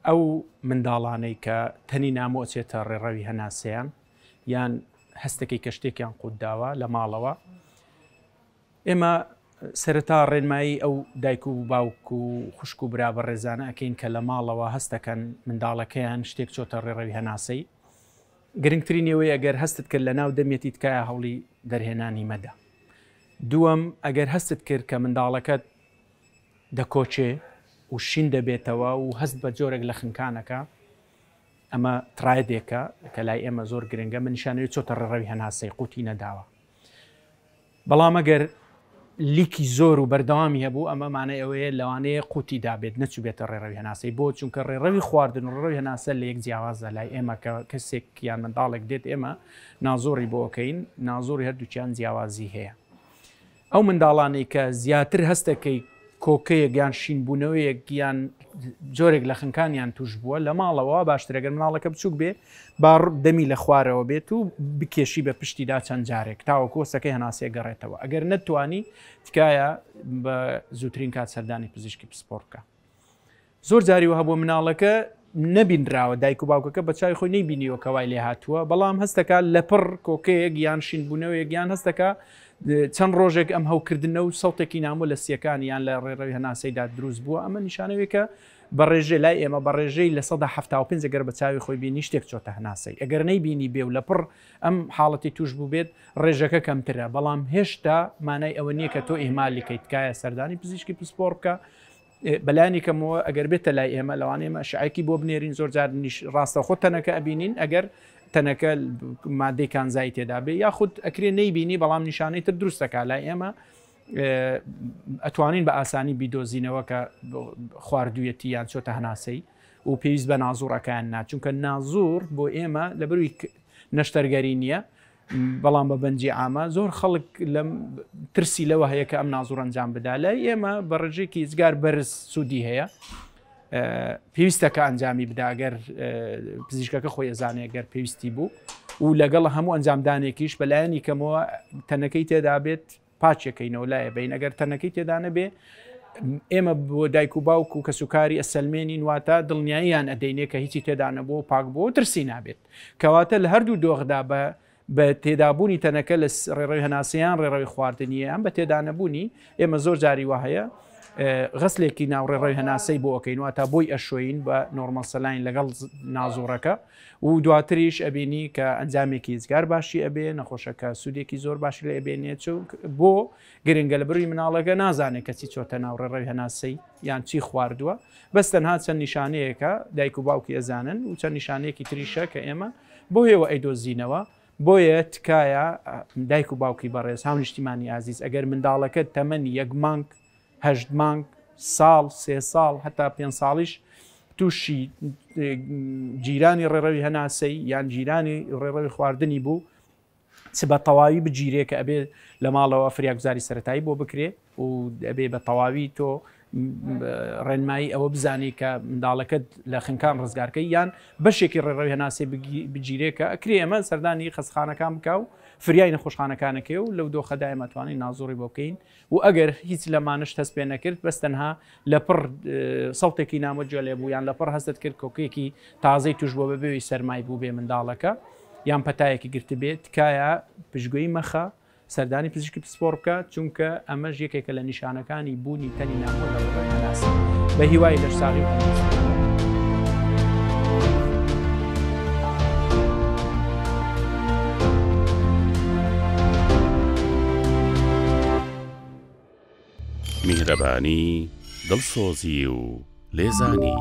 ئەو منداڵانەی کە تەنی نامۆچێتە ڕێڕەوی هەناسەیان یان هەستەکەی کە شتێکیان قوت داوە لە ماڵەوە ئێمە سەرەتا ڕێنمایی ئەو دایک و باوک و خوشک و برا بە ڕێزانە ئەەکەین کە لە ماڵەوە هەستەکەن منداڵەکەیان شتێک چۆتە ڕێڕەوی هەناسەی گرنگترین ئێوەی ئەگەر هەستت کرد لە ناو دەمێتی تکایە هەوڵی دەرهێنانی مەدە دووەم ئەگەر هەستت کرد کە منداڵەکەت دەکۆچێ و شین دەبێتەوە و هەست بە جۆرێک لە خنکان ئەکا، ئەمە ترایدێکە کە لای ئێمە زۆر گرنگە، منیشا نەوێ چۆتە ڕێڕەوی هەناسەی قوتی نەداوە، بەڵام ئەگەر لیکی زۆر و بەردەوامی هەبوو ئەمە مانای ئەوەیە لەوانەیە قوتی دابێت نەچوبێتە ڕێڕەوی هەناسەی، بۆ؟ چونکە ڕێڕەوی خواردن و ڕێڕەوی هەناسە لە یەک جیاوازە لای ئێمە کە کەسێک یان منداڵێک دێت ئێمە نازۆڕی بۆ ئەکەین نازۆڕی هەردووکیان جیاوازی هەیە. ئەو منداڵانەی کە زیاتر هەستەکەی کۆکەیەک یان شینبوونەوەیەک یان جۆرێک لە خنکانیان توش بووە لە ماڵەوە وا باشترە گەر مناڵەکە بچووک بێ با دەمی لە خوارەوە بێت و بکێشی بە پشتیدا چەند جارێک تاوەکو هەستەکەی هەناسێ گەڕێتەوە ئەگەر نەتوانی تکایە بە زووترین کات سەردانی پزیشکی پسپۆڕ بکە زۆر جاری وەها بووە مناڵەکە نەبینراوە، دایک و باوکەکە بە چاوی خۆی نەیبینیوە کە وای لێهاتووە، بەڵام هەست دەکا لەپڕ کۆکەیەک یان شینبوونەوەیەک یان هەست دەکا چەند ڕۆژێک ئەم هەوکردنە و سەوتێکی نامۆ لە سییەکانی یان لە ڕێڕەوی هەناسەیدا دروست بووە، ئەمە نیشانەوێکە بە ڕێژەی لای ئێمە بە ڕێژەی لە سەدا حەفتا و پێنج گەر بە چاوی خۆی بینی شتێک چۆتە هەناسەی ئەگەر نەیبینی بێ و لەپڕ ئەم حاڵەتی توش بووبێت ڕێژەکە کەمترە بەڵام هێشتا مانای ئەوە نییە کە تۆ ئیهمالیکەی تکایە سەردانی پزیشکی پسپۆڕ بکە ئێ بەلانی کەمەوە ئەگەر بێتە لای ئێمە لەوانەیە ئێمە ئەشعەیەکی بۆ بنێرین زۆر جار نیش ڕاستەوخۆ تەنەکە ئەبینین ئەگەر تەنەکە مادەی کانزایی تێدا بێ یاخود ئەکرێ نەیبینی بەڵام نیشانەی تر دروستەکە لای ئێمە ئەتوانین بە ئاسانی بیدۆزینەوە کە خواردویەتی یان چۆتە هەناسەی و پێویست بە نازوڕەکان ناچونکە نازور بۆ ئێمە لە بروی نەشتەرگەری نییە بەڵام بە بەنجی عامە زۆر خەڵک لەم ترسی لەوە هەیە کە ئەم نازوڕ ئەنجام بدا لای ئێمە بە ڕژێکی ئزگار بەرز سوودی هەیە پێویستەکە ئەنجامی بداگەر پزیشکەکە خۆی ئەزانێ گەر پێویستی بوو و لەگەڵ هەموو ئەنجامدانێکیش بەلایەنی کەمەوە تەنەکەی تێدا بێت پاچەکەی نەولایە بین ئەگەر تەنەکەی تێدا نەبێ ئێمە بۆ دایک و باوک و کەسوکاری ئەسلمێنین واتە دڵنیاییان ئەدەینێ کە هیچی تێدا نەبوو و پاک بۆ ترسی نابێت کەواتە لە هەردوو دۆخدا بە بە تێدابوونی تەنەکە لە ڕێڕەوی هەناسیان ڕێڕەوی خواردنیە ئەم بە تێدانەبوونی ئێمە زۆر جاری وە هەیە غسلێکی ناوڕێڕەوی هەناسەی بۆ ئەەکەین واتە بۆی ئەشۆین بە نۆرمەسەلاین لەگەڵ نازۆڕەکە و دواتریش ئەبینی کە ئەنجامێکی ئیجگار باشی ئەبێ نەخۆشەکە سوودێکی زۆر باشی لێ ئەبێنێ چونک بۆ گرنگە لە بروی مناڵەکە نازانێ کە چی چۆتە ناو ڕێڕەوی هەناسەی یان چی خواردووە بەس تەنها چەند نیشانەیەکە دایک و باوکی ئەزانن و چەند نیشانەیەکی تریشە کە ئێمە بۆ هێوە ئەیدۆزینەوە بۆیە تکایە دایک و باوکی بەڕێز هاونیشتیمانی ئازیز ئەگەر منداڵەکەت تەمەنی یەک مانگ هەشت مانگ، ساڵ، سێ ساڵ هەتا پێنج ساڵیش تووشی گیرانی ڕێڕەوی هەناسەی یان گیرانی ڕێڕەوی خواردنی بوو چ بە تەواوی بگیرێ کە ئەبێ لە ماڵەوە فریاگوزاری سەتایی بۆ بکرێ و ئەبێ بە تەواوی تۆ ڕێنمایی ئەوە بزانی کە منداڵەکەت لە خنکان ڕزگارکە یان بەشێکی ڕێڕەوی هەناسێ بگیرێکە ئەکرێ ئەمە سەردانی خەسخانەکان بکە و فریای نەخۆشخانەکانەکەی و لەو دۆخەدایمەتوانین نازۆڕی بۆ بکەین و ئەگەر هیچ لەمانەشت هەست پێ نەکرد بەس تەنها لەپڕ سەوتێکی نامۆت جوێ لێ بوو یان لەپڕ هەستت کرد کۆکێکی تازەی توش بووە بە بێوی سەرمای بووبێ منداڵەکە یان پەتایەکی گرتبێ تکایە پشتگوێی مەخە سەردانی پزیشکی پسپۆڕ بکە چونکە ئەمەش یەکێکە لە نیشانەکانی بوونی تەنی نامۆ لە ڕووی هەناسە بە هیوای لەشساغی و تەندروستی. میهرەبانی، دڵسۆزی و لێزانی.